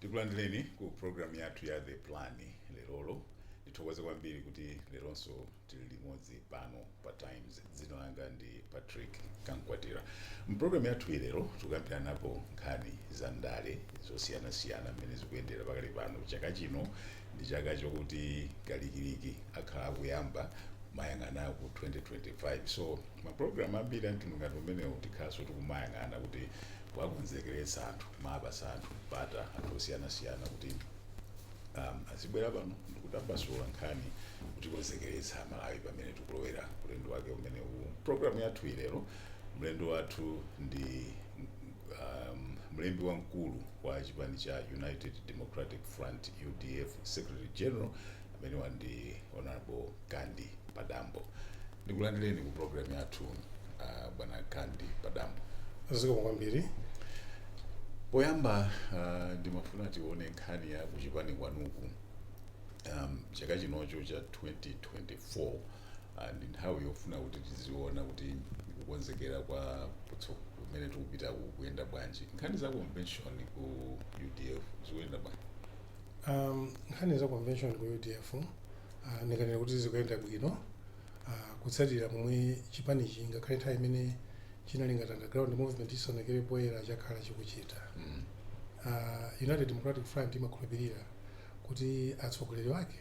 tikulandireni ku programu yathu ya the plan lerolo ndithokoze kwambiri kuti leronso Tili limodzi pano pa times dzina langa ndi patrick kamkwatira mpulogalamu yathu ilero tikukambiranapo nkhani za ndale zosiyanasiyana mmene zikuyendera pakali pano chaka chino ndi chaka chokuti kalikiliki akhala akuyamba kuyang'ana ku 2025 so mapulogalamu ambiri amtundu ngati umenewo tikhalanso tikumayang'ana kuti kuwakonzekeretsa anthu kumapatsa anthu mpata anthu osiyanasiyana kuti um, azibwera pano ndikutambasula nkhani kutikonzekeretsa amalawi pamene tikulowera ulendo wake umene uwu programu yathu ilero mlendo wathu ndi um, mlembi wamkulu wa chipani cha united democratic front udf secretary general amene ali ndi honorable kandi padambo Ndikulandireni ku program yathu uh, bwana Kandi Padambo. zikomo kwambiri Poyamba uh, ndimafuna tione nkhani ya kuchipani kwanuku um, chaka chinocho cha 2024 uh, ndi nthawi yofuna kuti tiziona kuti kukonzekera kwa kutso- kumene tikupita kukuyenda bwanji nkhani za convention ku udf zikuyenda bwanji um, nkhani za convention ku udf Ah, ndinganene kuti zikuyenda bwino ah, kutsatira momwe chipanichi ngakhale nthawi imene chinali ngati underground movement chisanaonekere poyera chakhala chikuchita Mm. Ah, united democratic front imakhulupirira kuti atsogoleri ake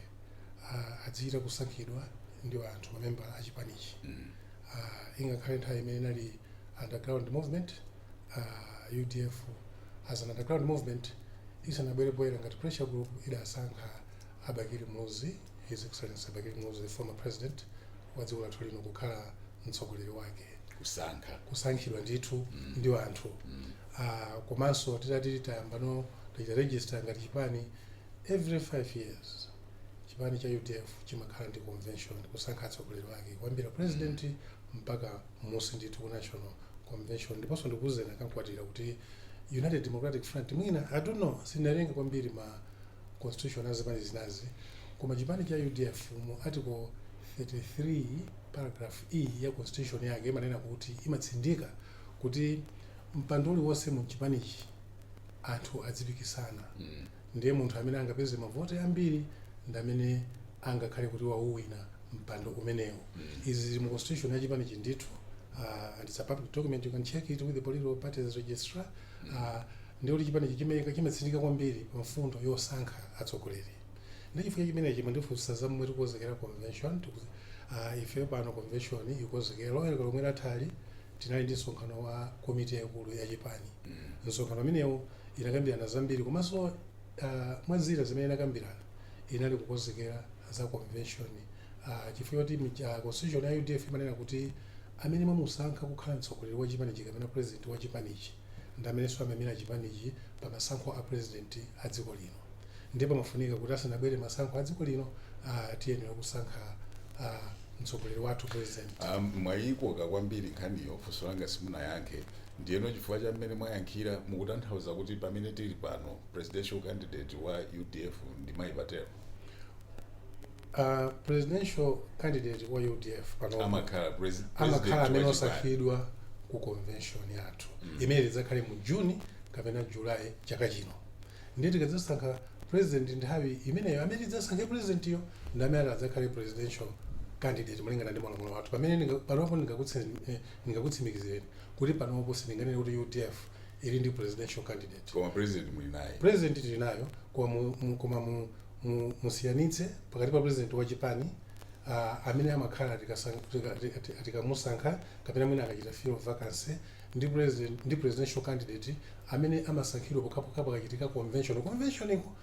ah, adzichita kusankhidwa ndi anthu mamembala a chipanichi Mm. Ah, ingakhale nthawi imene inali underground movement ah, udf as an underground movement isanabwere poyera ngati pressure group idasankha a Bakili Muluzi, His Excellency Bakili Muluzi, the former President wa dziko lathu lino kukhala mtsogoleri wake. kusankha kusankhidwa ndithu mm. ndi anthu mm. uh, komanso titati tayambano tachita register ngati chipani every five years chipani cha udf chimakhala ndi convention kusankha atsogoleri wake kuyambira president mm. mpaka m'munsi ndithu ku national convention ndiponso ndikuuzeni a Kamkwatira kuti united democratic front mwina i don't know sindinawerenge kwambiri ma constitution a zipani zinazi koma chipani cha udf mu article 33 paragraph e ya constitution yake imanena kuti imatsindika kuti mpando uliwonse mu chipanichi anthu adzipikisana ndiye munthu amene angapeze mavoti ambiri ndi amene angakhale kuti wauwina mpando umenewo izi zili mu constitution ya chipanichi ndithu uh, and it's a public document you can check it with the political parties registrar a Ndiye kuti chipanichi chimayika, chimatsindika kwambiri pa mfundo yosankha atsogoleri. Ndiye chifukwa cha chimenechi mwandifunsa za momwe tikukonzera convention, tiku a ife pano convention tikukonzekera. Loweruka lomwe lathali tinali ndi msonkhano wa komiti yaikulu ya chipani. Msonkhano umenewu tinakambirana zambiri komanso a mwa zina zimene tinakambirana inali kukonzekera. za convention uh, chifukwa choti mija- constitution ya udf imanena kuti amene mwamusankha kukhala mtsogoleri wa chipanichi kapena president wa chipanichi ndi amenenso amaimira chipanichi pa masankho a president a dziko lino ndiye pamafunika kuti asanabwere masankho a dziko lino uh, tiyenera kusankha uh, mtsogoleri wathu president Ah, mwayikoka kwambiri nkhaniyo funso langa simunayankhe ndiyeno chifukwa cha mmene mwayankhira mukutanthauza kuti pamene tili pano presidential candidate wa udf ndi mayi patel uh, presidential candidate wa udf panopa amakhala presi- amakhala president amene wa chipani. osankhidwa ku convention yathu imene tidzakhale mu juni kapena julayi chaka chino ndiye tikadzasankha president nthawi imeneyo amene tidzasankhe presidentiyo ndi amene ati adzakhale presidential candidate malingana ndi malamulo athu pamene ndinga- panopo ndingakutse- eh, ndingakutsimikizireni kuti panopo sindinganene kuti udf ili ndi presidential candidate koma president muli naye president tili naye koma mu- mu- koma mu- mu- musiyanitse pakati pa president wa chipani uh, amene amakhala tikasang- tika- tika- tika- tikamusankha kapena mwina akachita fill a vacancy ndi president ndi presidential candidate amene amasankhidwa pokhapokha pakachitika convention convention okay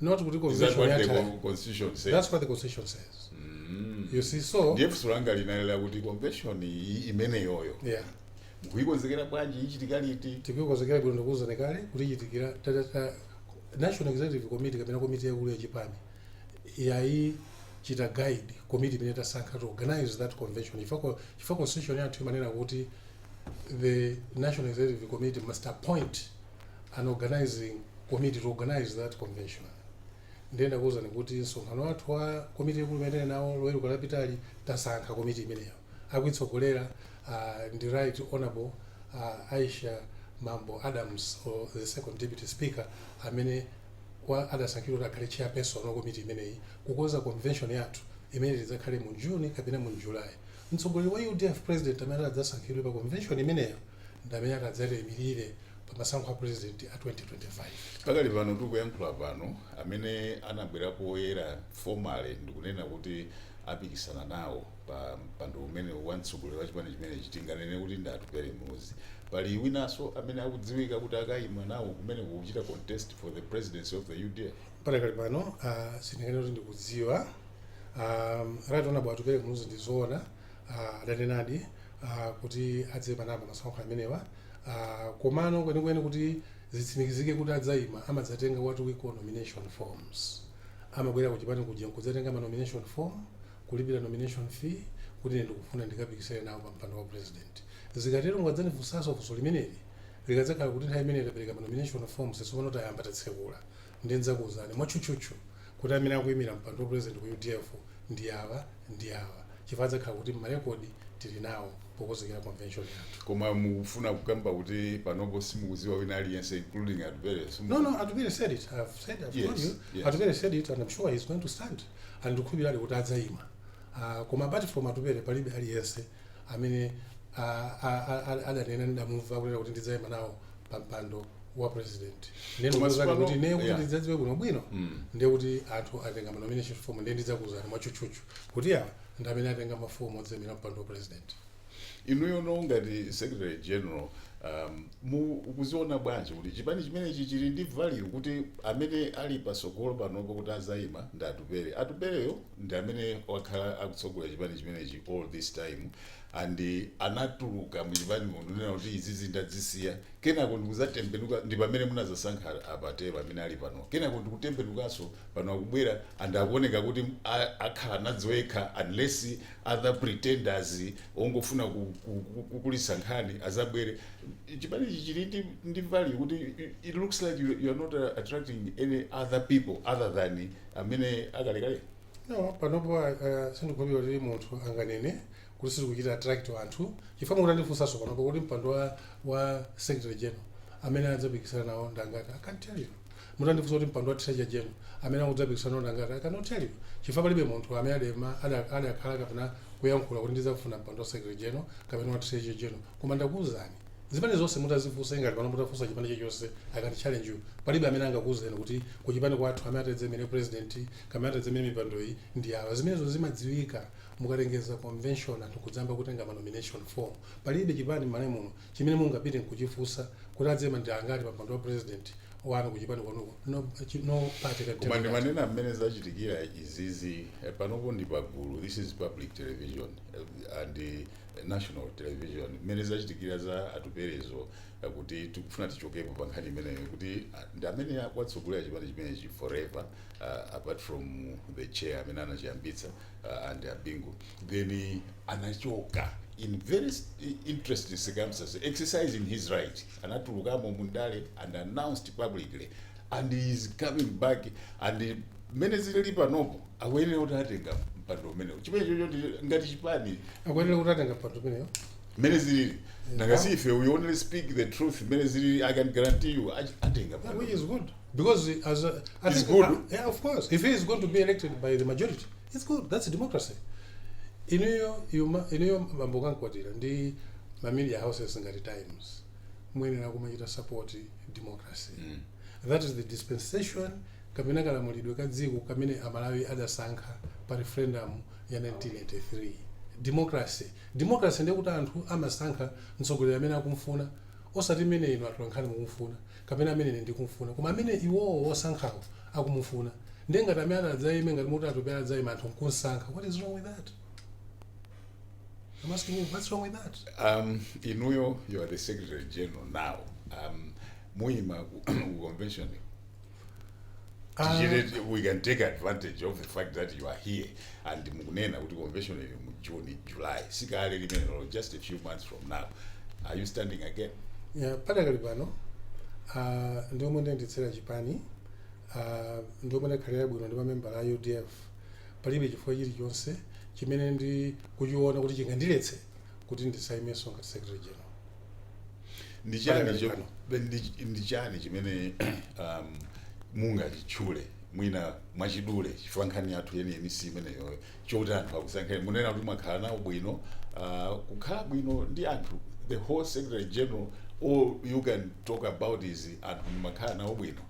not kuti Is that convention what the yatha con- constitution says? that's what the constitution says Mm. you see so ndiye funso langa linali lakuti convention iyi imeneyoyo yeah mukuyikonzekera bwanji ichitika liti tikuikonzekera bwino ndakuwuzani kale kuti ichitikira tatata national executive committee kapena komiti yaikulu ya chipani yayichita guide komiti imene tasankha to organize that convention chifukwa chifukwa constitution yathu imanena kuti the national executive committee must appoint an organizing committee to organize that convention ndiye ndakuwuzani kuti msonkhano wathu wa komiti yaikulu imene tinali nawo loweruka lapitali tasankha komiti imeneyo akuitsogolera uh, ndi right honorable uh, aisha mambo adams or the second deputy speaker amene wa adasankhidwa kuti akhale chairperson wa komiti imeneyi kukonza convention yathu imene tidzakhale mu june kapena mu july mtsogoleri wa udf president amene adzasankhidwe pa convention imeneyo ndi amene ati adzatiimirire pa masankho a president a 2025. Pakali pano tikuyankhula pano, amene anabwera poyera formally ndikunena kuti apikisana nawo pa mpando umenewu wa mtsogoleri wa chipani chimenechi tinganene kuti ndi Atupele Muluzi. Pali winanso amene akudziwika kuti akaima nawo kumeneko kuchita contest for the presidency of the udf? Padakali pano, ah, sindinganene kuti ndikudziwa. Ah, right honorable Atupele Muluzi ndi zoona adanenadi kuti adzayima nawo pa masankho amenewa komano kwenikweni kuti zitsimikizike kuti adzayima amadzatenga what we call nomination forms. Amabwera ku chipani kuja nkudzatenga ma nomination form, kulipira nomination fee kuti ine ndikufuna ndikapikisane nawo pa mpando wa president. Zikatero mukadzandifunsa funso limeneli likadzakhala kuti nthawi imene tapereka ma nomination forms tsopano tayamba tatsekula Ndiye ndidzakuuzani mwatchutchutchu kuti amene akuimira mpando wa President ku udf ndi awa ndi awa chifukwa adzakhala kuti mma record tili nawo pokozekera convention yathu. Koma mukufuna kukamba kuti panopo simukuziwa wina aliyense including Atupele simu. No no Atupele said it I've said I've yes, told you yes. Atupele said it and I'm sure he's going to stand and ndikukhulupirira kuti adzaima uh, koma apart from Atupele palibe aliyense amene a, a, a, a, adanena ndidamumva kunena kuti ndidzaima nawo pa mpando wa president ndiye Koma ndikuuzani tsopano- kuti ne kuti yeah. ndidzadziwe bwinobwino ndiye kuti anthu atenga manomination form ndiye ndidzakuuzani mwatchutchutchu kuti awa ndi amene atenga mafomu odzaimira mpando wa president inuyo no ngati secretary general um, mukuziona bwanji kuti chipani chimenechi chili ndi value kuti amene ali pasogolo panopo kuti azayima ndi atupere atupereyo ndi amene wakhala akutsogolera chipani chimenechi all this time and anatuluka muchipanimo kunena kuti izizi ndadzisiya kenako ndikuzatembenuka ndi pamene munazasankha a Patel amene ali pano kenako ndikutembenukanso pano akubwera and akuoneka kuti a- akhala alipo yekha unless other pretenders ongofuna ku- ku- ku- kukulitsa nkhani azabwere chipanichi chili ndi- ndi value kuti it- it looks like you, you are not uh, attracting any other people other than amene akalekale no panopo uh, sindikukhulupirira kuti munthu anganene kuti sitikuchita attract anthu chifukwa mukutandifunsanso panopo kuti mpando wa, wa secretary general amene adzapikisana nawo ndangati i can't tell you mutandifunsa kuti mpando wa treasurer general amene akudzapikisana nawo ndangati i cannot tell you chifukwa palibe munthu amene adema ada- adakhala kapena kuyankhula kuti ndidzafuna mpando wa secretary general kapena wa treasurer general koma ndakuwuzani Zipani zonse mutazifunsa ngati pano mutafunsa chipani chilichonse I can challenge you palibe amene angakuuzeni kuti kuchipani kwathu amene atadzaimire president kapena atadzaimire mipandoyi ndi awa zimenezo zimadziwika mukalengeza convention anthu nkudzayamba kutenga ma nomination form palibe chipani mmalawi muno chimene mungapite nkuchifunsa kuti adzaima ndi angati pa mpando wa president wanu kuchipani kwanuko no, chi- no party can tell koma you that. ndimanena mmene zachitikira izizi eh, panopo ndi pagulu this is public television eh, and eh, national television mmene zachitikira za atuperezo eh, kuti tikufuna tichokepo pa nkhani imeneyo kuti ah, ndi amene watsogolera chipani chimenechi forever ah, apart from the chair amene anachiyambitsa ah, and abingu then anachoka in very s- i- interesting circumstances exercising his right anatulukamo mundale and announced publicly and he is coming back and mmene zilili panopo akuyenera kuti atenga mpando umenewo chimenecho ndi- ngati chipani akuyenera kuti atenga mpando umenewo mmene zilili nanga si ife we only speak the truth mmene zilili i can guarantee you ach- atenga mpando which is good because as a, I It's think, good. uh, yeah of course if he is going to be elected by the majority it's good that's democracy inuyo yuma- inuyo bambo Kamkwatira ndi ma media houses ngati times muyenera kumachita support democracy That is the dispensation kapena kalamulidwe ka dziko kamene Amalawi adasankha pa referendum ya 1983. Democracy. Democracy ndiye kuti anthu amasankha mtsogoleri amene akumfuna osati mmene inu atolankhani mukumfuna kapena amene ine ndikumfuna koma amene iwowo osankhawo akumufuna. Ndiye ngati amene ati adzaime ngati mukuti Atupele adzaime anthu nkunsankha what is wrong with that? I'm asking you, what's wrong with that? Um, inuyo, you are the Secretary General now. Um, muima ku convention. Ah. Tichite- we can take advantage of the fact that you are here and mukunena kuti convention ili mu June, July. Sikale limenelo, just a few months from now. Are you standing again? Yeah, padakali pano ah, ndi momwe ndayendetsera chipani ah, ndi momwe ndakhalira bwino ndi mamembala a udf palibe chifukwa chilichonse chimene ndikuchiona kuti chingandiletse kuti ndisaimenso ngati secretary general ndi chani Pali cho- pano. be- ndi- ndi chani chimene um, mungachitchule mwina mwachidule chifukwa nkhani yathu yeniyeni si imeneyoyo choti anthu akusankhani munena kuti mwakhala nawo bwino uh, kukhala bwino ndi anthu the whole secretary general all you can talk about is anthu mumakhala nawo bwino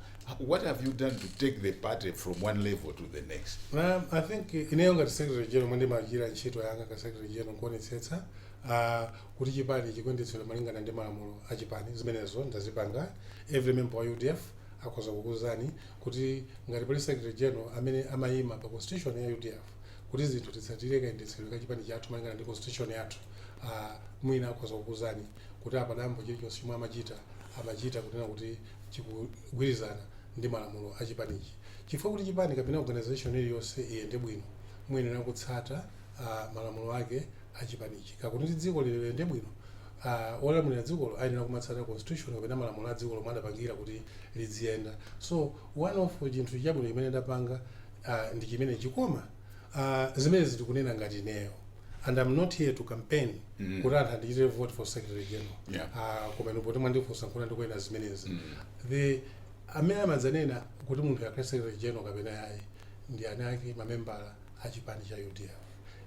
what have you done to take the party from one level to the next Um, I think eh, ineyo ngati secretary general momwe ndimachitira ntchito yanga ka secretary general nkuonetsetsa ah, kuti chipani chikuyendetsedwa malingana ndi malamulo a chipani zimenezo ndazipanga every member wa udf akhoza kukuwuzani kuti ngati pali secretary general amene amayima pa constitution ya udf kuti zinthu titsatire kayendetsedwe ka chipani chathu malingana ndi constitution yathu ah, mwina akhoza kukuwuzani kuti a Padambo chilichonse chomwe amachita amachita kunena kuti chikugwirizana ndi malamulo a chipanichi chifukwa kuti chipani kapena organisation iliyonse iyende bwino muyenera kutsata malamulo ake a chipanichi ngakhale kuti dziko lino liyende bwino olamulira dzikolo ayenera kumatsata constitution kapena malamulo a dzikolo omwe adapangira kuti lidziyenda so one of chinthu chabwino chimene ndapanga ndi chimenechi koma zimenezi ndikunena ngati ineyo. and i'm not here to campaign mm. kuti anthu andichitire vote for secretary general yeah. uh, koma inu poti mwandifunsa nkuona ndikunena zimenezi mm. amene amadzanena kuti munthuyu akhale secretary general kapena yayi ndi aniwake mamembala a chipani cha udf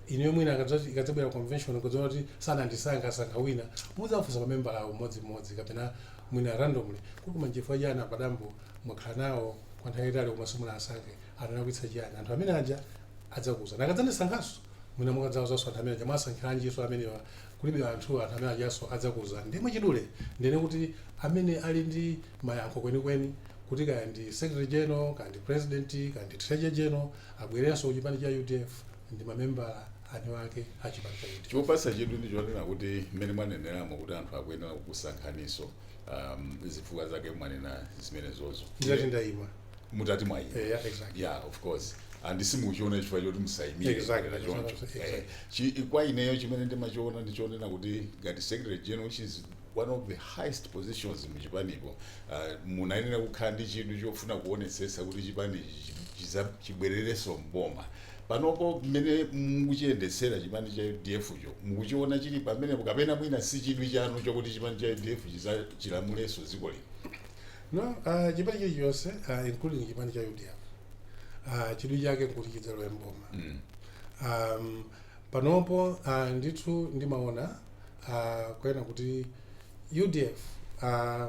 ineyo mwina akadzati- ikadzabwera convention mudzaona kuti sanandisankha asankha wina mudzafunsa mamembalawo mmodzimmodzi kapena mwina randomly kuti koma nchifukwa chani a Padambo mwakhala nawo kwa nthawi yaitali koma simunawasankhe analakwitsa chiyani anthu amene aja adzakuuzani akadzandisankhanso mwina mukadzawauzanso anthu amene aja mwasankhiranjinso amenewa kulibe anthu anthu amene ajanso adzakuuzani ndiye mwachidule ndinene kuti amene ali ndi mayankho kwenikweni kuti kaya ndi secretary general kaya ndi president kaya ndi treasurer general abwerenso kuchipani cha udf ndi mamembala aniwake a chipani cha udf chopatsa chidwi ndi chonena kuti mmene mwaneneramo kuti anthu akuyenera kukusankhaninso um, zifukwa zake mwanena zimenezozo nditati ndayima mutati mwaima Eh, yeah, exactly. yeah of course and simuchiona chifukwa choti musaimirenso Exactly. kapena choncho Exactly. Eh, chi- kwa ineyo chimene ndimachiona ndichonena kuti ngati secretary general which is one of the highest positions muchipanipo uh, munayenera kukhala ndi chidwi chofuna kuonetsetsa kuti chipani chi- chiza- chibwererenso mboma panopo mmene mukuchiyendetsera chipani cha udf cho mukuchiona chili pamenepo kapena mwina si chidwi chanu chokuti chipani cha udf chilamulenso dziko lino No, uh, chipani chilichonse uh, including chipani cha UDF uh, chidwi chake nkuti chidzalowe mboma mm. um, panopo uh, ndithu ndimaona uh, kunena kuti UDF uh,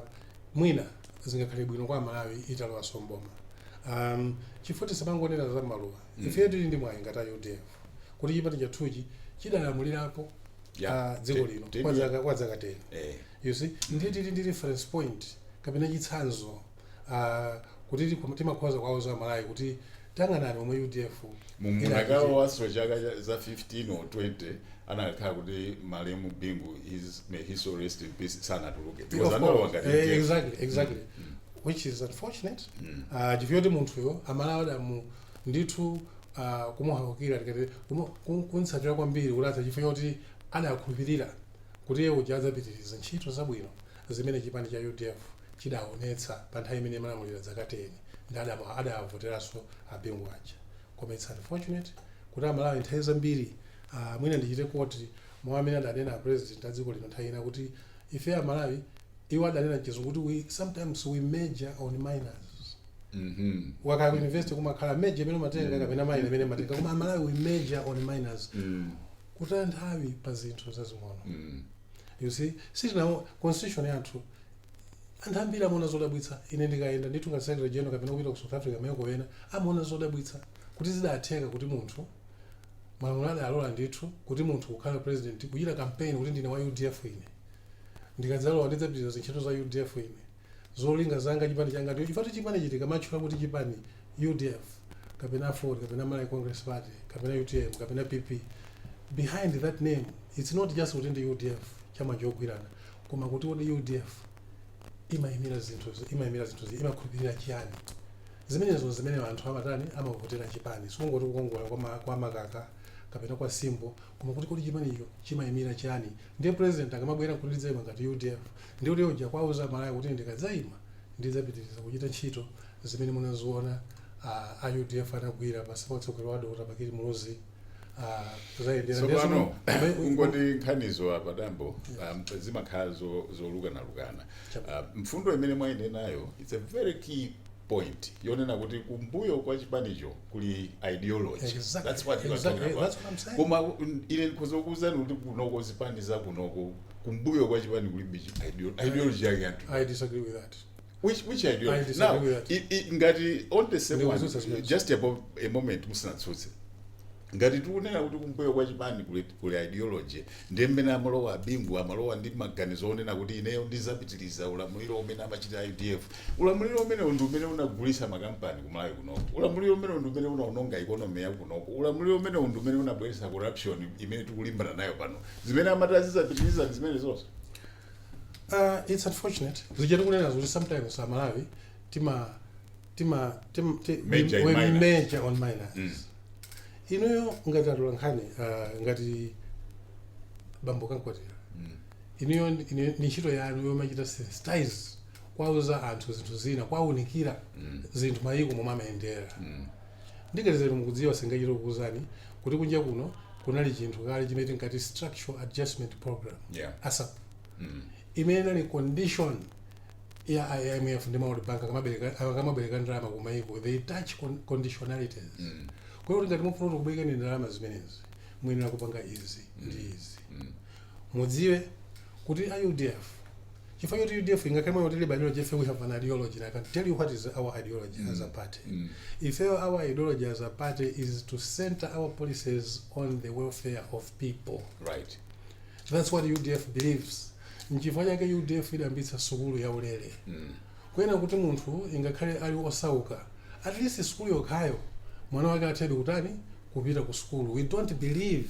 mwina zingakhale bwino kwa Malawi italowanso mboma um, chifukwa choti tisamangonena za maluwa mm. ifeyo tili ndi mwayi ngati a UDF kuti chipani chathuchi chidalamulirapo Yeah, uh, dziko ti- lino ti- kwa zaka kwa zaka 10 eh. You see, ndiye tili ndi reference point kapena chitsanzo uh, kuti tiku- timakhoza kuwauza aMalawi kuti tayang'anani momwe udf mudakalowanso chaka cha- za 15 or 20 chikanakhala kuti malemu bingu his, may his soul rest in peace sanatuluke Of because analowa course. ngati Eh, wa UDF. exactly exactly which is unfortunate Ah, chifukwa choti munthuyo aMalawi adamu ndithu ah, kumuhawukira tingati kumu- kum- kumtsatira kwambiri kuti atha chifukwa choti adakhulupirira kuti iye uja adzapitiriza ntchito zabwino zimene chipani cha udf chidaonetsa pa nthawi imene imalamulira dzaka teni ndiye adamu- adavoteranso a Bingu aja koma its unfortunate kuti amalawi nthawi zambiri aah mwina ndichite quote mau amene adanena a president a dziko lino nthawi ina kuti ife amalawi iwo adanena mchizungu kuti we sometimes we major on minors ukakhala ku university kumakhala major imene umatenga kapena minor imene umatenga koma amalawi we major on minors kutaya nthawi pa zinthu zazing'ono Mm. you see sitina constitution yathu anthu ambiri amaona zodabwitsa ine ndikayenda ndithu ngati secretary general kapena kupita ku south africa mayiko ena amaona zodabwitsa kuti zidatheka kuti munthu malamulo adalola ndithu kuti munthu kukhala president kuchita campaign kuti ndine wa udf ine ndikadzalowa ndidzapitiriza zintchito za udf ine zolinga zanga chipani changa ndicho chifukwa chipani chiti tikamatchula kuti chipani udf kapena aford kapena malawi congress party kapena utm kapena pp behind that name it's not just kuti ndi udf chala chogwirana koma kuti kodi udf imayimira zinthu imayimira zinthu zi- imakhulupirira chiyani zimenezo zimene anthu amatani amavotera chipani sikungoti kukongola kwa ma- kwa makaka kapena kwa simbo koma kuti kodi chipanicho chimayimira chiyani Ndiye president akamabwera kuti ndidzaima ngati udf ndiye kuti iye uja akuwauza amalawi kuti ndikadzaima ndidzapitiliza kuchita ntchito zimene munaziona a udf anagwira pansi pa utsogoleri wa Dr Bakili Muluzi kuzayendera ndiye tsopano zomwe- kungoti nkhanizo a padambo um, zimakhala zo- zolukanalukana Chabwino. uh, mfundo imene mwayinenayo its a very key point yonena kuti kumbuyo kwa chipanicho kuli ideology Exactly. that's what you are Exactly. talking about That's what I'm saying. koma mm, ine ndikhoza kukuuzani kuti kunoko zipani za kunoko kumbuyo kwa chipani kulibe chi- ideo- ideology yake anthu I disagree with that. which which I ideology disagree now with that. i- i- ngati on the same Ndikutsutsa one zimene. just a, mo- a moment musinatsutse ngati tikunena kuti kumbuyo kwa chipani kuli kuli ideology ndiye mmene amalowa abingu amalowa ndi maganizo onena kuti ineyo ndizapitiliza ulamuliro umene amachita udf ulamuliro umenewo ndi umene unagulisa makampani kumalawi kunoko ulamuliro umenewo ndi umene unaononga economy yakunoko ulamuliro umenewo ndi umene unabweresa corruption imene tikulimbana nayo pano zimene amati azizapitiliza ndi zimenezo Uh, it's unfortunate. Zijatu kunena kuti sometimes Amalawi tima tima tim, tim, Major we- and minor. major on minor Mm. inuyo ngati atola nkhani uh, ngati bambo kamkwatira Mm. inuyo ndi- ine- ndi ntchito yanu yomachita sensitize kwauza anthu zinthu zina kwaunikira Mm. zinthu mayiko momwe amayendera Mm. ndikadziwa mukudziwa singachita kukuuzani kuti kunja kuno kunali chinthu kale chimene tinkati structural adjustment program Yeah. sap Mm. imene inali condition ya I- imf ndi world bank akamabereka- akamabereka ndalama ku maiko they attach con- conditionalities kwa iyo kuti ngati mufuna kuti tikubwerekeni ndalama zimenezi muyenera kupanga izi ndi izi mudziwe kuti a udf chifukwa choti udf ingakhale kuti ilibe ideology ife we have an ideology and i can tell you what is our ideology as a party ifeyo our ideology as a party is to center our policies on the welfare of people right that's what udf believes nchifukwa chake udf idayambitsa sukulu ya ulere kuyenera kuti munthu ingakhale ali osauka at least sukulu yokhayo mwana wake athedi kutani kupita ku sukulu we don't believe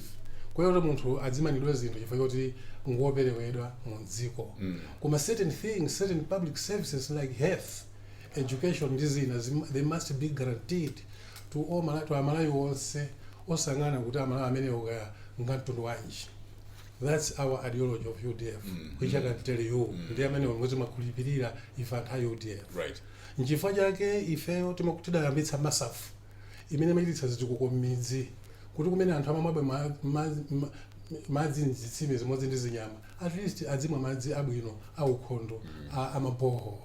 kuyenera kuti munthu adzimanidwe zinthu chifukwa choti ngoperewedwa mu dziko koma certain things certain public services like health education ndi zina zim- they must be guaranteed to all Mala- to amalawi onse osayang'ana kuti amalawi amenewo kaya ngamtundu wanji That's our ideology of UDF, mm, which mm, I can tell you. Mm. Ndi amene timakhulupirira ife anthu a UDF. Right. Nchifukwa chake ifeyo tidayambitsa MASAF imene imachititsa zitukuko m'midzi kuti kumene anthu amamwabe ma, ma, ma, madzi mzitsime zimodzi ndi zinyama at least adzimwa madzi abwino aukhondo mm. amaboho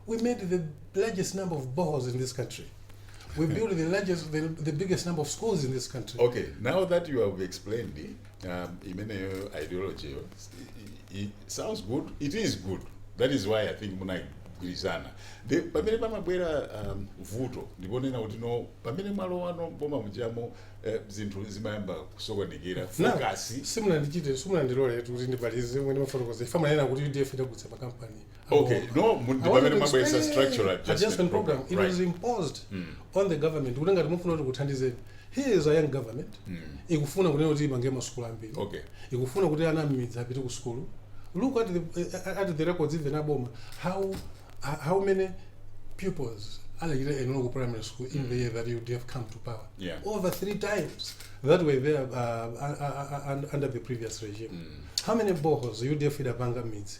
we made the largest number of boreholes in this country we built the largest the, the biggest number of schools in this country okay now that you have explained um, imeneyo ideology yo i- i- sounds good it is good that is why i think munagwirizana nayo the pamene pamabwera um, vuto ndiponena kuti no pamene mwalowano boma mujamo eh, zinthu zimayamba kusokonekera fokasi simunandichite simunandilole kuti ndimalize mmene mwafotokozera ife timanena kuti udf idagulitsa makampani Okay, no, mu- I wanted ndipamene to mwabweza explain structural adjustment adjustment program. program. It Right. was imposed on the government kuti ngati mufuna kuti kuthandizeni. Here is a young government. Ikufuna kunena kuti imange masukulu ambiri. Okay. Ikufuna kuti ana amidzi apite ku sukulu. Look at the eh, at the records even aboma how how many pupils alekire enola ku primary school in the year that you have come to power. Yeah. Over three times that were there uh, uh, uh, uh, under the previous regime. How many boreholes UDF idapanga midzi?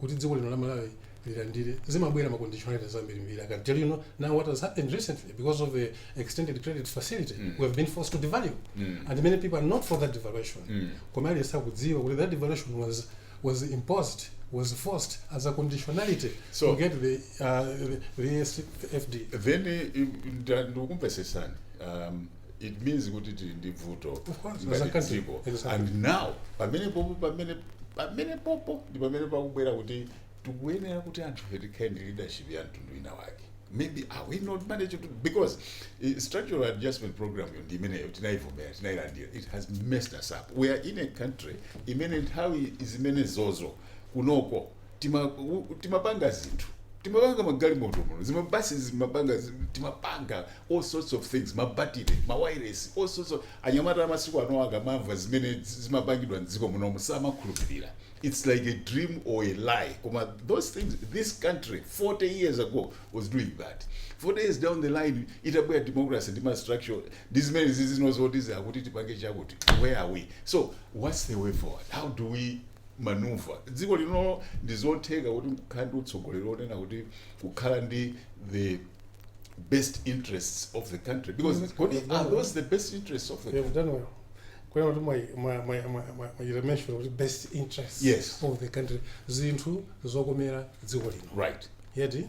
kuti dziko lino la malawi lilandire zimabwera ma conditionalities ambirimbiri i can tell you no, now what has happened recently because of the extended credit facility mm. we have been forced to devalue mm. and many people are not for that devaluation mm. koma aliyense akudziwa kuti that devaluation was, was imposed was forced as a conditionality So- to get the, uh, the, the fd then eh, nda- ndikumvesesani um, it means kuti tili ndi bvuto Of course, ngati as a country. dziko Exactly. and now pamene popo pamene pamene popo ndi pamene pakubwera kuti tikuyenera kuti anthu ife tikhale ndi leadership ya mtundu wina wake maybe are we not managing to because eh, structural adjustment program yo ndi imeneyo tinayivomera tinayilandira it has messed us up we are in a country imene nthawi zimenezozo kunoko tima u- timapanga zinthu timapanga magalimoto muno zimabasi zimapanga zi- timapanga all sorts of things mabatire mawireless all sorts of anyamata amasiku ano akamamva zimene zi- zimapangidwa mdziko munomu samakhulupirira it's like a dream or a lie koma those things this country 40 years ago was doing that 40 years down the line itabwera democracy ndi mastructural ndi zimene zizinozoti zakuti tipange chakuti where are we so what's the way forward how do we maneuver dziko lino ndi zotheka kuti kukhala ndi utsogoleri onena kuti kukhala ndi the best interests of the country because Mm. kodi are those the best interests of the You've done well. Kunena kuti mwa- mwa- mwa- mwa- mwa- mwachita mention kuti best interest Yes. of the country zinthu zokomera dziko lino right yeti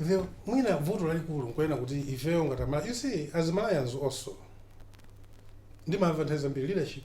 the mwina vuto lalikulu nkunena kuti ifeyo ngati amala you see as malawians also ndi maadvantage ambiri leadership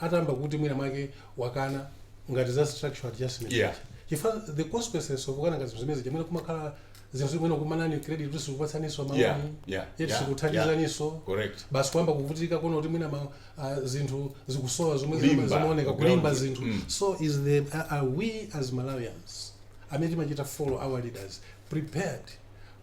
atayamba kuti mwina mwake wakana ngati za structural adjustment Yeah. chifukwa the consequences of kukana ngati zinthu zimenezija mwina kumakhala zinthu mwina kumanani credit kuti sikupatsaninso Yeah, maloni yeah, yeti yeah, sikuthandizaninso correct basi kuyamba kuvutika kuona kuti mwina ma, uh, zinthu zikusowa zomwe zima- Kulimba, zimaoneka okay. kulimba zinthu Mm. so is the are we as malawians amene timachita follow our leaders prepared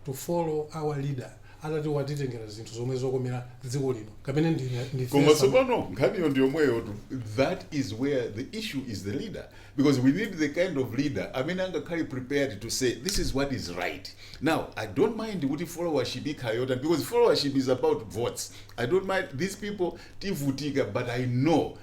to follow our leader atati akutitengera zinthu zomwe zokomera dziko lino kapena ndi- koma ndifesa tsopano nkhaniyo ndi yomweyo tu that is where the issue is the leader because we need the kind of leader amene angakhale prepared to say this is what is right now i don't mind kuti followership ikhala yotani because followership is about votes i don't mind these people tivutika but i know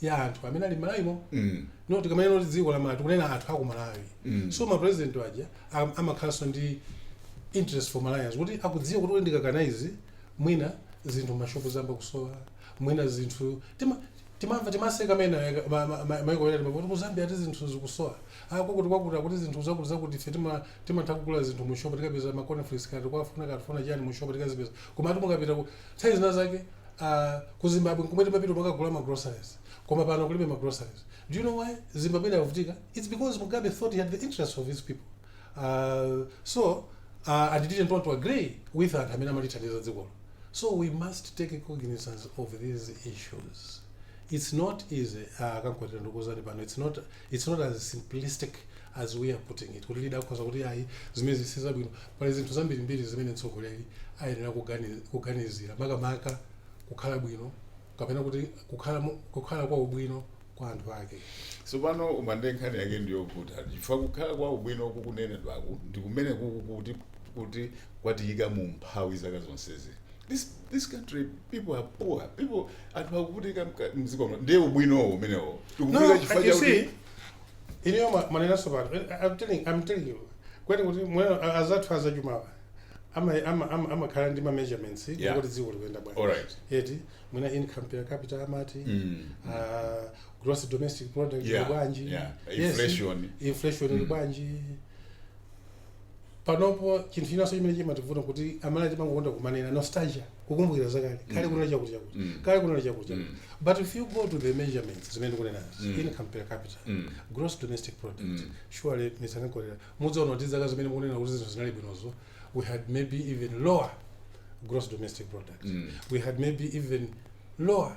ya anthu amene ali m'Malawimo mm. no tikamanena kuti dziko la malawi tikunena anthu aku malawi mm. so mapresident aja am- amakhalanso ndi interest for malawians kuti akudziwa kuti ine ndikakana izi mwina zinthu m'mashopu ziyamba kusowa mwina zinthu tima- timamva timaseka ena maiko ena timamva kuti ku zambia ati zinthu zikusowa akukuti kwakuti akuti zinthu zakuti zakuti ife tima- timatha kugula zinthu mushopu tikapeza ma cornflakes kati kwafuna katufuna chani mushopu tikazipeza koma ati mukapita ku nthawi zina zake Uh, ku zimbabwe nkomwe timapita kukagula ma groceries koma pano kulibe ma groceries do you know why zimbabwe inavutika it's because mugabe thought he had the interest of his people uh, so uh, and didn't want to agree with anthu amene amathandiza dzikolo so we must take cognizance of these issues it's not easy uh, Kankwatira ndikuuzani pano it's not It's not as simplistic as we are putting it kuti leader akhoza kuti ayi zimenezi sizabwino pali zinthu zambirimbiri zimene mtsogoleri ayenera kugani- kuganizira makamaka kukhala bwino kapena kuti kukhala mo- kukhala kwa ubwino kwa anthu ake tsopano Umande nkhani yake ndi yokuti chifukwa kukhala kwa ubwino kukunenedwaku ndi kumene kuku kuti kuti kwatiyika mu umphawi zaka zonsezi this, this country people are poor people anthu akuvutika mka- mdziko muno ndiye ubwinowo umenewo No, tikuvutika and chifukwa you chakuti see, you know, ma- mwanena so bad. I'm telling, I'm telling you. Muone kuti anzathu azachumawa ama ama ama amakhala ndi ma measurements Yeah. kuti dziko likuyenda bwanji. alright Eti mwina income per capita amati Mm. uh, gross domestic product Yeah, ili bwanji. yeah. Yes, Inflation. inflation ili bwanji. panopo chinthu chinanso chimene chimativuta kuti amalawi timangokonda kumanena nostalgia kukumbukira zakale kale kunali chakuti chakuti Mm. kale kunali chakuti chakuti Mm. but if you go to the measurements zimene ndikunenazi Mm. income per capita Mm. gross domestic product Mm. surely musanalole mudzaona kuti zaka zimene mukunena kuti zinthu zinali bwinozo we had maybe even lower gross domestic product Mm. we had maybe even lower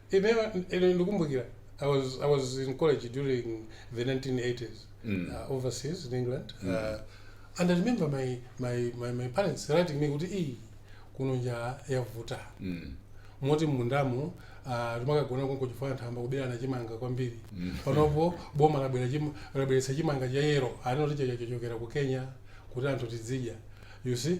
Ineyo ine ndikumbukira I was I was in college during the 1980s uh, overseas in England uh, and I remember my my my, my parents writing me kuti iyi kuno njala yavuta moti m'mundamu uh, timakagona konko chifukwa anthu ayamba kuberana chimanga kwambiri panopo boma labwera chim- labweretsa chimanga cha yellow anati chachachokera ku Kenya kuti anthu tidzidya you see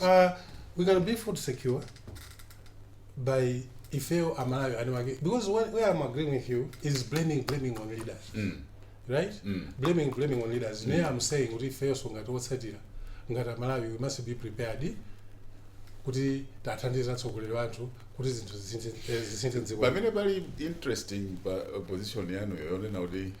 Uh, we can be food secure by ifeyo amalawi eni ake because where, where i'm agreeing with you is blaming blaming on leaders mm. right mm. blaming blaming on leaders mm. i'm saying kuti ifeyonso ngati otsatira ngati amalawi we must be prepared kuti tathandiza atsogoleri athu kuti zinthu zisinthe m'dziko pamene pali interesting pa position yanu yonena kuti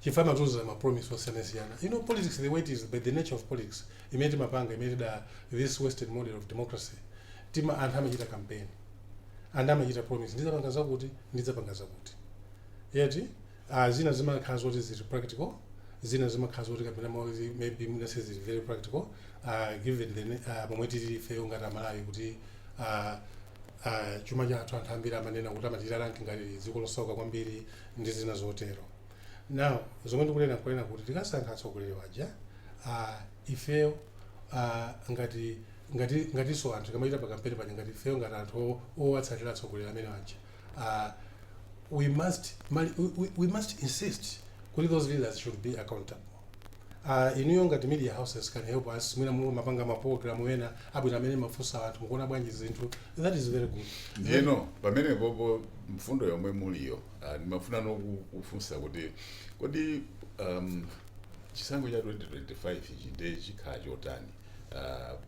chifukwa amatiuza ma promise osiyanasiyana you know politics the way it is but the nature of politics imene timapanga imene da this western model of democracy tima anthu amachita campaign and amachita promise ndidzapanga zakuti ndidzapanga zakuti yet uh, zina zimakhala zoti zili practical zina zimakhala zoti kapena mwazi maybe mwina sizili very practical uh, given the uh, momwe tili ifeyo ngati amalawi kuti uh, uh, chuma chathu anthu ambiri amanena kuti amatiranka ngati dziko losauka kwambiri ndi zina zotero now zomwe ndikunena n'kunena kuti tikasankha atsogoleri waja uh, ifeyo uh, ngati ngati ngatinso anthu tikamachita pakampeni paja ngati ifeyo ngati anthu o- owatsatira atsogoleri amene waja uh, we must mali- we, we- we must insist kuti those leaders should be accountable Uh, inuyo ngati media houses can help us mwina mulungu mapanga ma program wena abwino amene mumafunsa anthu mukuona bwanji zinthu that is very good ndiyeno pamenepopo mfundo yomwe muliyo uh, ndimafunanso kufunsa kuti kodi um, chisankho cha 2025 ichi nde chikhala chotani uh,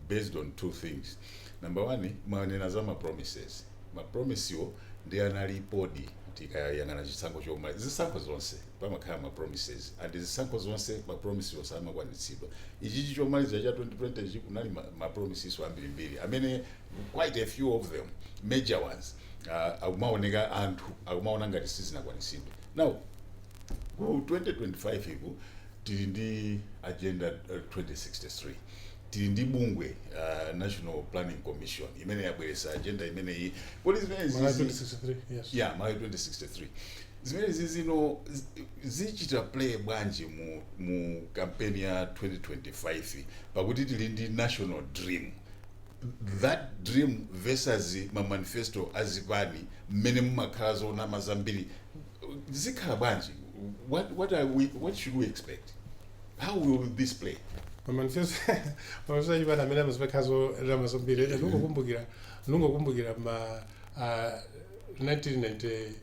based on two things number one mwanena za ma promises ma promise-wo nde analipodi tikayang'ana chisankho chomwe zisankho zonse pamakhala ma promises and zisankho zonse ma promise-wo samakwanilitsidwa. Ichichi chomalizila cha 2020 chi kunali ma ma promises-wo ambirimbiri amene quite a few of them, major ones, aah akumawoneka anthu akumawona ngati sizinakwanilitsidwe. Now ku 2025 uku tili ndi agenda 2063, tili ndi bungwe aah National Planning Commission imene yabweretsa agenda imeneyi. Kodi zimenezi Malawi izi 2063, yes. Yeah, Malawi 2063. Zimenezizi zichita play bwanji mu mu campaign ya 2025 pakuti tili ndi national dream that dream versus ma manifesto a zipani mmene mumakhala zonama zambiri zikhala bwanji what what are we what should we expect how will this play mamanifesto mamanifesto achipani amene mumakhala zonama zambiri ndingokumbukira ndingokumbukira ma ah, 1990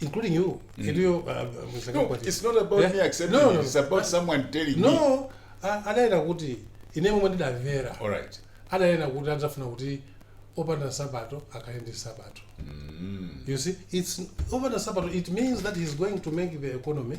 including you mm. you know, uh, uh, no, it's not about yeah? me accepting no, no, it's about I, someone telling no, me no adaenda kuti ine momwe ndidamvera alright adaenda kuti adzafuna kuti opanda sabato akhale ndi sabato mm. you see it's opanda sabato it means that he's going to make the economy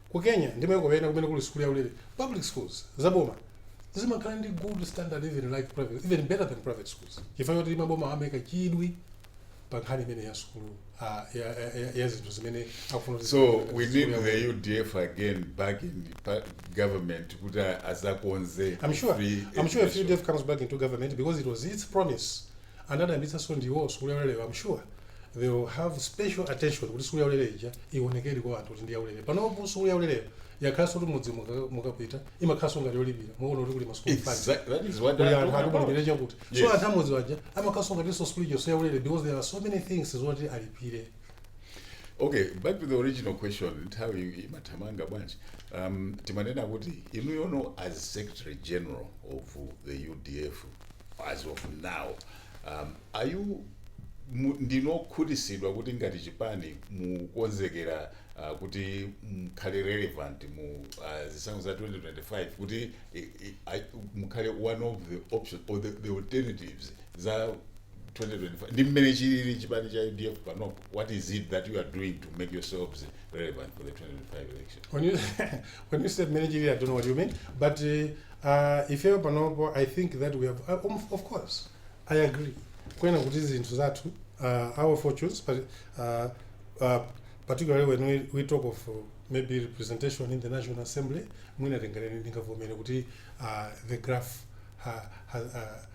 Ku Kenya ndi maiko ena kumene kuli sukulu yaulere, public schools, za boma, zimakhala ndi good standard even like private, even better than private schools chifukwa choti mabomawa amaika chidwi pa nkhani imeneyi ya sukulu ah, ya, ya, ya, ya zinthu zimene akufuna kuti So zikhale ngati we sukulu need yaulere. the UDF again back in pa- government kuti adzakonze. I'm sure. free I'm sure if education. UDF comes back into government because it was its promise anadayambitsaso ndiwo sukulu yauleleyo am sure they will have special attention kuti sukulu yaulele ija iwonekere kwa anthu kuti ndi yaulele panopo sukulu yauleleyo yakhalanso kuti m'mudzi muka- mukapita imakhalanso ngati yolipira mukuona kuti kuli ma school fund Exactly. That is what kuli I'm anthu talking about. akumulipire chakuti so Yes. anthu a m'mudzi aja amakhalanso ngatinso sukulu ija so yaulele because there are so many things zoti alipire okay back to the original question nthawi imathamanga bwanji um, timanena kuti inuyono as secretary general of the udf as of now um, are you mu- ndinu okhutisidwa kuti ngati chipani mukonzekera uh, kuti mukhale relevant mu uh, zisankho za 2025 kuti i- i- ai- mukhale one of the options or the, the alternatives za 2025 ndi mmene chilili chipani cha udf panopo what is it that you are doing to make yourselves relevant for the 2025 election When you when you said managerial, I don't know what you mean, but uh, Aaa ifeyo panopo I think that we have aah umf of course I agree kunena kuti zinthu zathu aah our fortunes pali aah aah particularly when we we talk of maybe representation in the National Assembly mwina tinganene ndingavomere kuti aah the graph ha has aah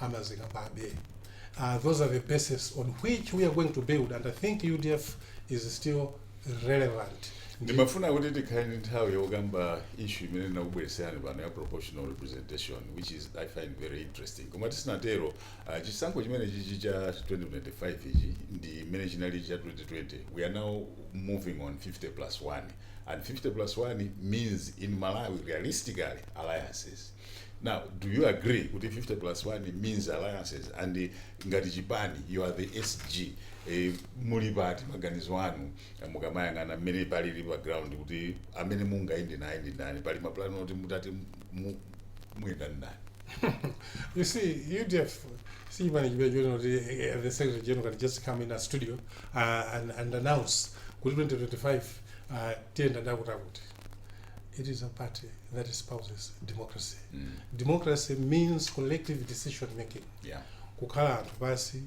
amazikambabe uh, those are the basis on which we are going to build and i think udf is still relevant ndimafuna kuti tikhale ndi nthawi yokamba issue imene ndinakubweretserani pano ya proportional representation which is i find very interesting koma tisanatero uh, chisankho chimene chichi cha 2025 ichi ndi imene chinali cha 2020 we are now moving on 50 plus 1 and 50 plus 1 means in malawi realistically alliances Now, do you agree kuti 50 plus 1 means alliances and ngati chipani you are the SG eh, muli pati maganizo anu eh, mukamayang'ana mmene palili pa ground kuti amene mungayende naye ndi ndani pali mapulani oti mutati mu- muyenda ndi ndani You see, UDF, see when you you know the, eh, the Secretary General can't just come in a studio uh, and, and announce kuti 2025 uh, tiyenda ndi akuti akuti It is a party that espouses democracy. Mm. Democracy means collective decision making. Yeah. Kukhala anthu pansi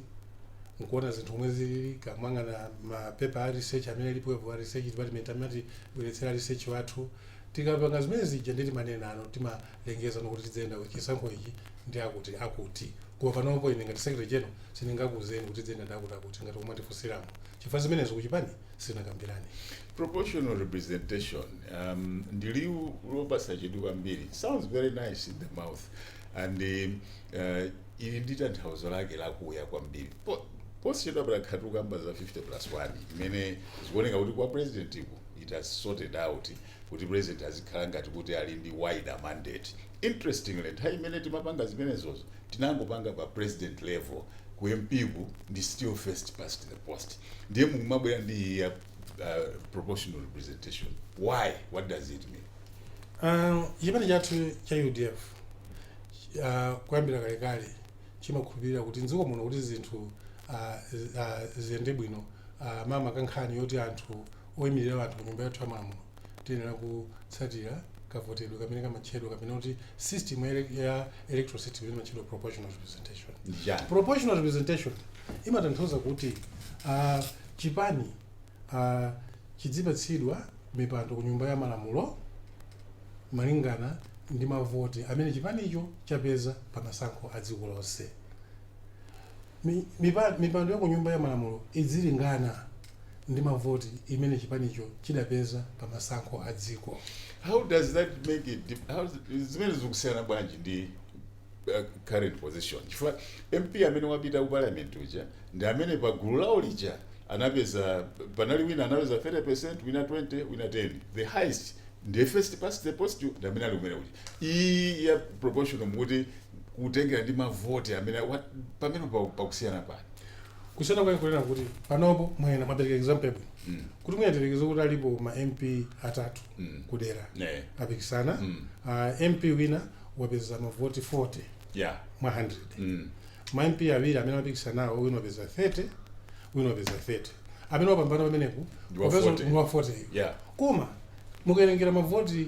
nkuona zinthu omwe zilili kumayang'ana mapepa a research amene alipowo a research department amatibweretsera research wathu tikapanga zimene zija ndi timanenano timalengezano kuti tidzayenda chisankho ichi ndi akuti akuti koma panopo ine ngati secretary general sindingakuuzeni kuti tidzayenda ndi akuti akuti ngati momwe mwandifunsiramo chifukwa zimenezo kuchipani sitinakambirane. Proportional representation um, ndi liwu lopatsa chidwi kwambiri sounds very nice in the mouth and uh, ili ndi tanthauzo lake lakuya kwambiri Po- posachedwa apa takhala tikukamba za 50 plus 1 imene zikuoneka kuti kwa president ku it has sorted out kuti president azikhala ngati kuti ali ndi wider mandate interestingly nthawi imene timapanga zimenezozo tinangopanga pa president level ku mp ku ndi still first past the post ndiye mumabwera ndi iyi ya uh, proportional representation why what does it mean Uh, chipani chathu cha udf uh, kuyambira kalekale chimakhulupirira kuti mdziko muno kuti zinthu uh, uh, ziyende bwino uh, maka maka nkhani yoti anthu oimilira anthu ku Nyumba yathu ya Malamulo tiyenera kutsatira kavotedwe kamene kamatchedwa kapena kuti system ya, ele- ya electoral system imene imatchedwa proportional representation Ndi chani? proportional representation imatanthauza kuti uh, chipani uh, chidzipatsidwa mipando ku nyumba ya malamulo malingana ndi mavoti amene chipanicho chapeza pa masankho a dziko lonse Mi- mipa- mipando ya ku nyumba ya malamulo idzilingana ndi mavoti imene chipanicho chidapeza pa masankho a dziko. How does that make it dip- how does- zimene zikusiyana bwanji ndi uh, current position chifukwa mp amene wapita ku parliament uja ndi amene pa gulu lawo lija anapeza panali wina anapeza 30 percent wina 20 wina 10 the highest the first past the post ndi amene ali kumene kuja iyi ya proportional mukuti kutengera ndi mavoti amene what- pamene pa- pakusiyana pake kusiyana kwake nkunena kuti panopo mwanena mwapereka example yabwino Mm. kuti muyerekeze kuti alipo ma mp atatu Mm. kudera Eh. apikisana Mm. Ah, mp wina wapeza mavoti 40 Yeah. mwa 100 Mm. ma mp awiri amene apikisanawo wina wapeza 30 wina wapeza 30 amene wapambana pamenepo Ndi wa wapeza 40. ndi wa 40 Yeah. koma mukawerengera mavoti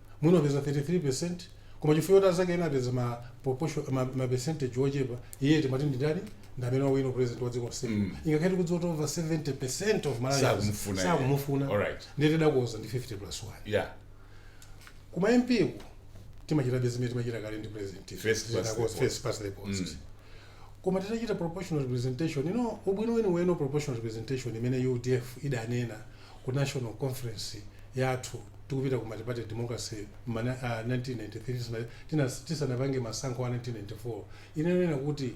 Mwina wapeza 33% koma chifukwa choti azake ena apeza ma proportion ma, ma percentage ochepa iye timati ndi ndani ndi amene wawina u president wa dziko lonse mm. ngakhale tikudziwa kuti over 70% of Malawians Sakumufuna iye. sakumufuna Alright. ndiye tidakonza ndi 50 plus 1 yeah kuma MP ku timachitabe zimene timachita kale ndi president First past the Zitakonzedwa, post. first past the post koma titachita proportional representation you know ubwino weniweni wa proportional representation imene udf idanena ku national conference yathu tikupita ku multiparty democracy ma uh, 1993 tisana- tina- tisanapange masankho a 1994 inanena kuti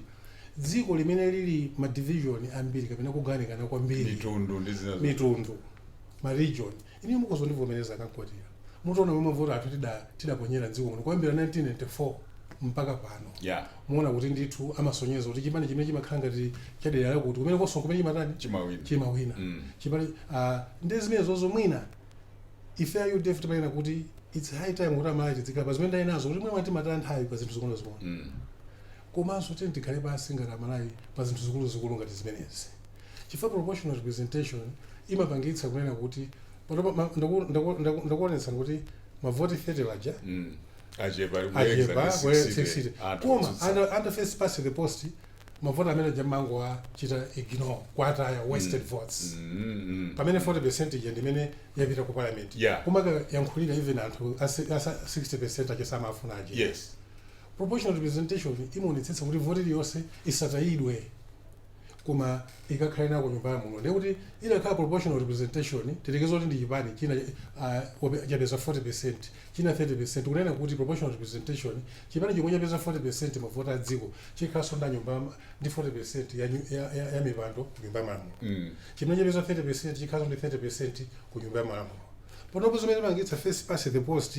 dziko limene lili ma division ambiri kapena kugawanikana kwambiri mitundu ndi zina zo- mitundu ma region Inuyo mukhoza kundivomereza a Kamkwatira mutaona momwe mavoti athu tidaponyera mdziko muno kuyambira 1994 mpaka pano yeah. Muona kuti ndithu amasonyeza kuti chipani chimene chimakhala ngati chadera lakuti kumene konso kumene chimatani chimawina chimawina mm. chipani uh, ah, ndi zimene zozo mwina ife a UDF timanena kuti it's high time kuti Amalawi tizikhala pa zimene ndanenazo kuti mwina timataya nthawi pa zinthu zing'ono zing'ono mm. Komanso tiyeni tikhale pansi ngati Amalawi pa zinthu zikuluzikulu ngati zimenezi. Chifukwa proportional representation imapangitsa kunena kuti panopa ma- ndaku- ndaku- ndaku- ndakuonetsani kuti mavoti 30 aja Mm. achepa achepa kuyeza ndi where 60 60 de. Anthu koma otsutsa. under, under first past the post mavoti amene aja amangowachita ignore kuwataya wasted votes Mm, mm. pamene 40 percent ija ndimene yapita ku parliament Yeah. kumayankhulira even anthu a si- a sa- 60 percent aja samafuna aja yes Proportional representation imaonetsetsa kuti voti iliyonse isatayidwe koma ikakhale nako ku nyumba ya malamulo ndiye kuti inakhala proportional representation tiyerekeze kuti ndi chipani china uh, chapeza 40% china 30% kunena kuti proportional representation chipani chomwe chapeza 40% mavoti a dziko chikhalanso mu nyumba ndi 40% ya, nyu- ya, ya, ya mipando ku nyumba ya malamulo mm. chimene chapeza 30% chikhalanso ndi 30% ku nyumba ya malamulo panopo zimene timagwiritsa first past the post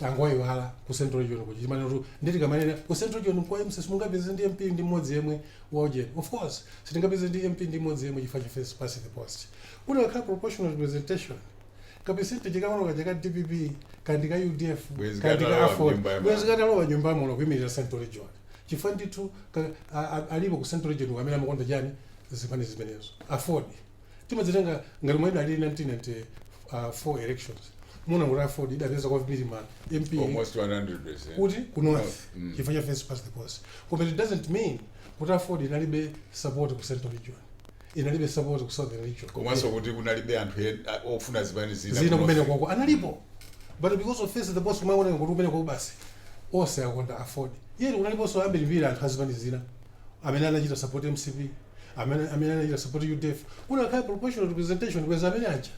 tangoyiwala ku central region kuja chimanena kuti ndithu tikamanena ku central region kwa mcp simungapeze ndi mp ndi mmodzi yemwe waujeni of course simungapeze ndi mp ndi mmodzi yemwe chifukwa cha first past the post kunakakhala proportional representation ka percentage kang'ono kaja ka dpp kandi ka udf Bwezi kandi ka katalowa aford nyumba ya bwezi mama. katalowa nyumba ya malamulo kuyimirira central region chifukwa ndithu ka- a- a- alipo ku central region amene amakonda chani zipani zimenezo aford timadzitenga ngati momwe idalili 1994 elections muwona kuti aford idapeza kwambiri ma mp almost 100%. kuti ku north Mm. chifukwa cha first past the post koma it doesn't mean kuti aford inalibe support ku central region inalibe support ku southern region komanso kuti kunalibe anthu en- a- ofuna zipani zina zina kuno. kumene kwako analipo but because of face the post kumaoneka kuti kumene kwako basi onse akonda aford yet kunaliponso ambirimbiri anthu azipani zina amene anachita support mcp amene amene anachita support UDF kunakakhala proportional representation bwezi amene aja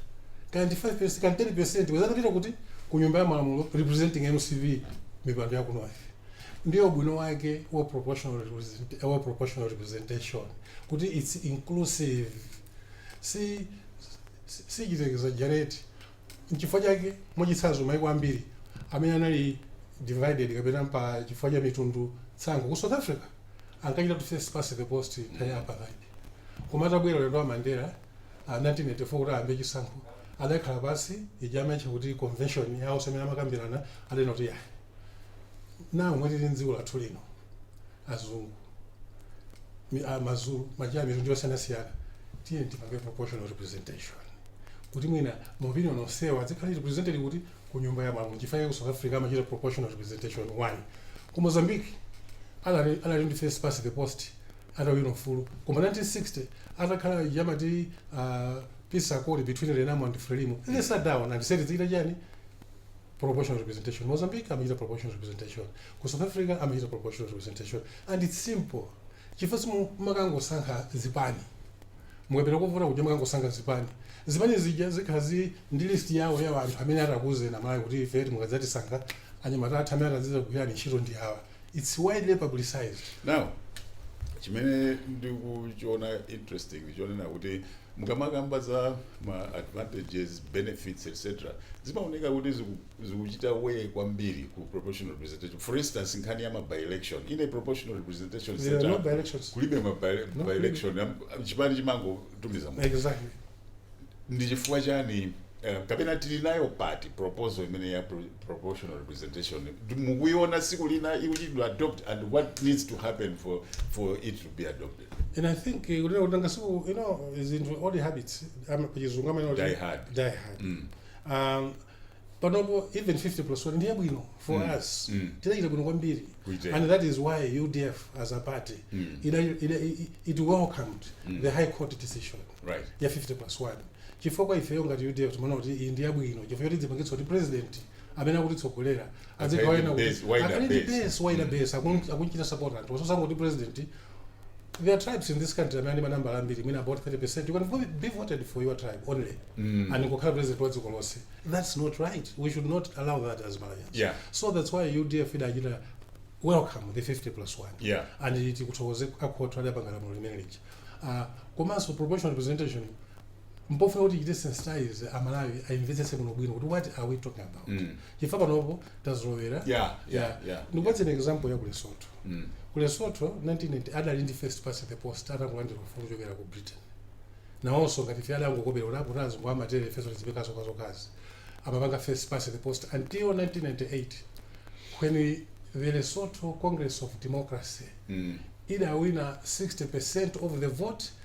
kaya ndi 5% kaya ndi 10% bwezi atapita kuti ku nyumba ya malamulo representing MCP mipando ya kuno ife ndiyo ubwino wake wa proportional represent, wa proportional representation kuti it's inclusive si si- sichita exaggerate Nchifukwa chake, mwachitsanzo, maiko ambiri amene anali divided kapena pa chifukwa cha mitundu tsankho ku South Africa ankachitanso first past the post nthawi ya apartheid. Koma atabwera ulendo wa Mandela wa 1994 kuti ayambe chisankho, adakhala pansi, ija amaitcha kuti convention yaonse imene amakambirana, adanena kuti, Yaa, ndi momwe tili m'dziko lathu lino. azungu mi- a- mazulu maja a mitundu yosiyanasiyana tiye tipange proportional representation kuti mwina maopinion onsewa adzikhale represented kuti ku nyumba ya malamulo chifukwa ku south africa amachita proportional representation onani ku mozambique anali anali ndi first past the post atawina ufulu koma 1990 atakhala ija amati uh, peace accord between renamo and frelimo they sat down and said zikita chani proportional representation mozambique amachita proportional representation ku south africa amachita proportional representation and it's simple chifukwa simumakangosankha zipani mukapita kovota kuti mukangosankha zipani zipani zija zikhala zi ndi list yawo ya anthu amene atakuuzeni amalawi kuti ife mukadzatisankha anyamata athu amene atazizakugwirirani ntchito ndi awa it's widely publicized now chimene ndikuchiona interesting ndichonena kuti mukamakamba za ma advantages benefits etc zimaoneka kuti ziku- zikuchita weigh kwambiri ku proportional representation for instance nkhani ya ma by-election in a proportional representation there are no setup, by-elections kulibe ma by- No, by-election am- chipani chimangotumiza munthu exactly ndi chifukwa chani eh, kapena tili nayo pati proposal imene ya pro- proportional representation Ndi- mukuiona tsiku lina ikuchitidwa adopt and what needs to happen for, for it to be adopted and i think eh, kunena kuti ngasiku you know zinthu old habits ama- pachizungu amanena kuti Die hard. die hard um, panopo even 50 plus 1 ndi yabwino for mm. us mm. tidachita bwino kwambiri and that is why udf as a party mm. it, it, it, it welcomed mm. the high court decision right. ya 50 plus 1 chifukwa ifeyo ngati udf timaona kuti iyi ndi yabwino chifukwa choti idzipangitsa kuti president amene akutitsogolera azigawaena kuti Base, wider akhale ndi base. base wider base akun- akunchita support anthu osasangoti president there are tribes in this country amene ali manambala ambiri mwina about 30 percent you can vo- be voted for your tribe only and kukhala president wa dziko lonse that's not right we should not allow that as malawians Yeah. so that's why udf idachita welcome the 50 plus 1 Yeah. and tikuthokoze akhothi ali apanga lamulo limene lija Ah, komanso proportional representation mpofunika kuti tichite sensitize amalawi ayimvetsetse bwinobwino kuti what are we talking about Mm. chifukwa panopo tazolowera Yeah, yeah, yeah. ndikupatseni example ya ku lesotho Mm. ku lesotho 1990 adali ndi first past the post atangolandira ufulu kuchokera ku britain nawonso ngati ife adangokopera kuti a poti azungu amatere ifenso tizipanga zokhazokhazi amapanga first past the post until 1998 when the lesotho congress of democracy Mm. idawina 60 percent of the vote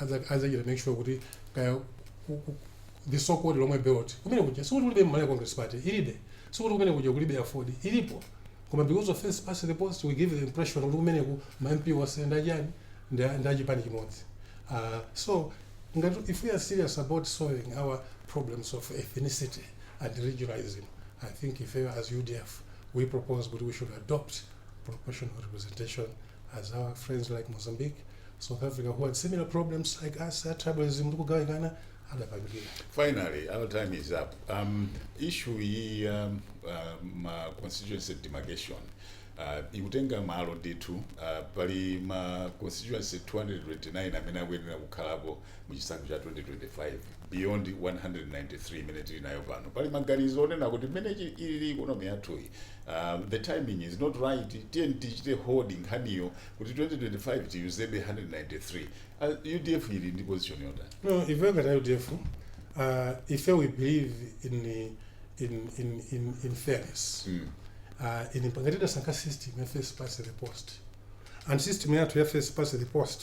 adzachita make sure kuti kaya the so called lomwe belt kumene kuja sikuti kulibe malawi congress party ilipo sikuti kumene kuja kulibe aford ilipo koma because of first past the post we give the impression kuti kumeneku ma mp onse ndachani ndachipani chimodzi uh, so ngati if we are serious about solving our problems of ethnicity and regionalism i think ife as udf we propose kuti we should adopt proportional representation as our friends like Mozambique, South Africa, who had similar problems like us, a tribalism ndi kugawikana adapangira. Finally, our time is up. Um, issue ya um, um, uh, constituency demarcation uh, ikutenga malo ndithu uh, pali ma constituency 229 amene akuyenera kukhalapo mu chisankho cha 2025 beyond 193 imene tili nayo pano pali maganizo onena kuti mmene chi- ilili ikonomi yathuyi Um, the timing is not right tiyeni tichite hold nkhaniyo kuti 2025 tiyuzebe 193 uh, udf ili ndi position yotani No, ife ngati udf uh, ife we believe in, in, in, in, in fairness mm. uh, in ngati tidasankha system ya first past the post and system yathu ya first past the post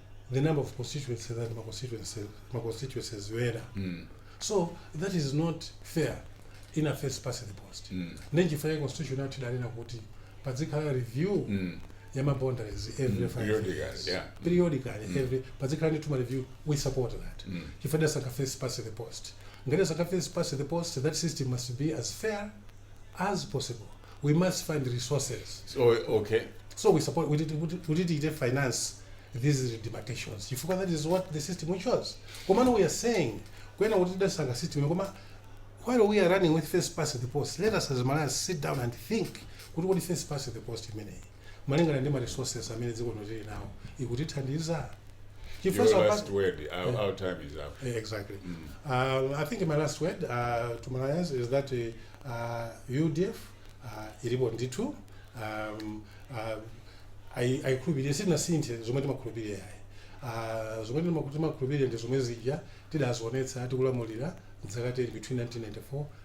the number of constituencies that ma constituencies ma constituencies were Mm. so that is not fair in a first past the post Mm. nenjifaya constitution yathu idanena kuti padzikhala review Mm. ya ma boundaries every five Periodically, years yeah. periodically Mm. every padzikhala ndithu ma review we support that Mm. chifukwa dasaka first past the post ngati asaka first past the post that system must be as fair as possible we must find resources Oh, okay. so we support we did we did- we did it finance these demarcations chifukwa that is what the system we chose komano we are saying kwena kuti tidasanga system koma while we are running with first past the post let us as malawi sit down and think kuti kodi first past the post imeneyi malingana ndi ma resources amene dziko lino tili nawo ikutithandiza Your Chifukwa last past- word. Our, Yeah. our time is up. Eh, exactly um, i think my last word uh, to malawians is that uh, uh, udf uh, ilipo ndithu um, uh, ai- aikhulupirire sitinasinthe zomwe timakhulupirira yayi Ah, zomwe timaku- timakhulupirira ndi zomwe zija tidazionetsa tikulamulira mzaka 10 between 1994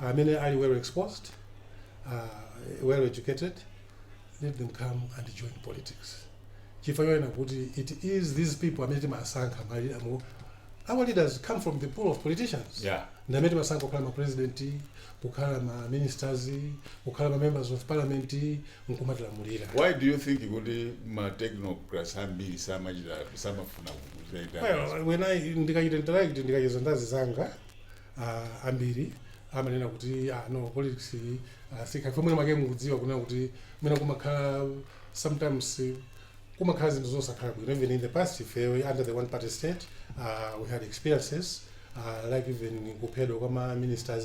amene ali well exposed uh, well educated let them come and join politics chifukwa chonena kuti it is these people amene timasankha mali- amu- our leaders come from the pool of politicians Yeah. ndamene timasankha kukhala ma president kukhala ma ministers kukhala ma members of parliament nkumatilamulira Why do you think kuti ma technocrats ambiri samachita samafuna kuchita Well, when I ndikachita interact ndikacheza ndi azinzanga ah, ambiri amanena kuti ah, no politics iyi ah, si ya ife mwina make mukudziwa kunena kuti mwina kumakhala sometimes eh, kumakhala zinthu zosakhala bwino even in the past ife under the one party state uh, we had experiences uh, like even kuphedwa kwa ma ministers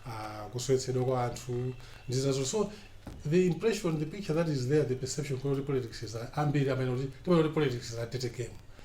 uh, kusowetsedwa kwa anthu ndi zinazo so the impression the picture that is there the perception kuti politics is a- ambiri amanena kuti timanena kuti politics is a dirty game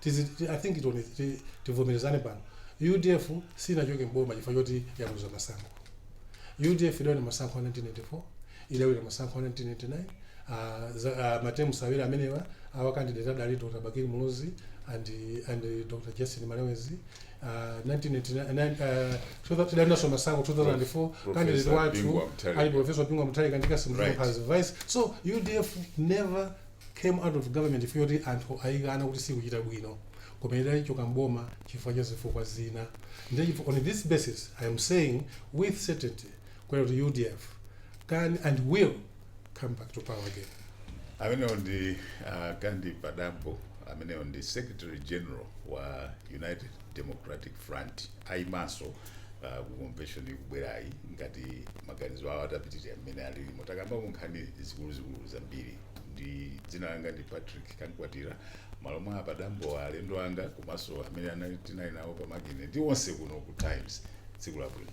Tizi I think tione ti, tivomerezane pano. UDF sinachoke mboma chifukwa choti yaluza masankho. UDF idawina masankho a 1994, idawina masankho a 1999, uh, za, uh, ma terms awiri amenewa our candidate adali Dr. Bakili Muluzi and and Dr. Justin Malewezi uh, 1999 uh, tidawinanso masankho 2004 candidate Professor wathu Bingu wa Mutharika. ali Professor Bingu wa Mutharika ndi Cassim Right. Chilumpha as vice. So UDF never Came out of government chifukwa choti anthu ayikana kuti sikuchita bwino koma idachoka m'boma chifukwa cha zifukwa zina ndiye chifukwa on this basis I am saying with certainty kunena kuti udf can and will come back to power again. Amenewo ndi a Kandi Padambo amenewo ndi Secretary General wa United Democratic Front ayimanso ah, ku convention ikubwerayi ngati maganizo awo atapitirira mmene alilimo takambako nkhani zikuluzikulu zambiri ndine dzina langa ndi patrick kamkwatira m'malo mwa a padambo alendo anga komanso amene tinali nawo pamakine ndi onse kuno ku times tsiku labwino